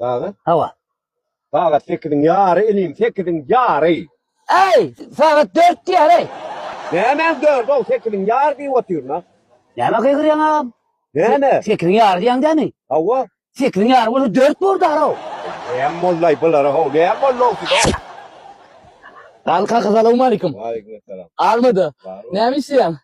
Sagat? Hawa. Sagat sekiziň ýary, inim, sekiziň ýary. Äý, sagat dört diýäreý. Nämäň dördi-ow, sekiziň ýary diýip otyryn-a. Näme gygyrýaň agam? Näme? Sekiziň ýary diýýäň dämi? Hawa. Sekiziň ýary bolsa dört bor dagry-ow. Näme boldy-aý bulara-how, näme boldy-ow size-ow? Galka, salowmaleýkim. Waleýkimessalam. Almada. Näme işleýäň?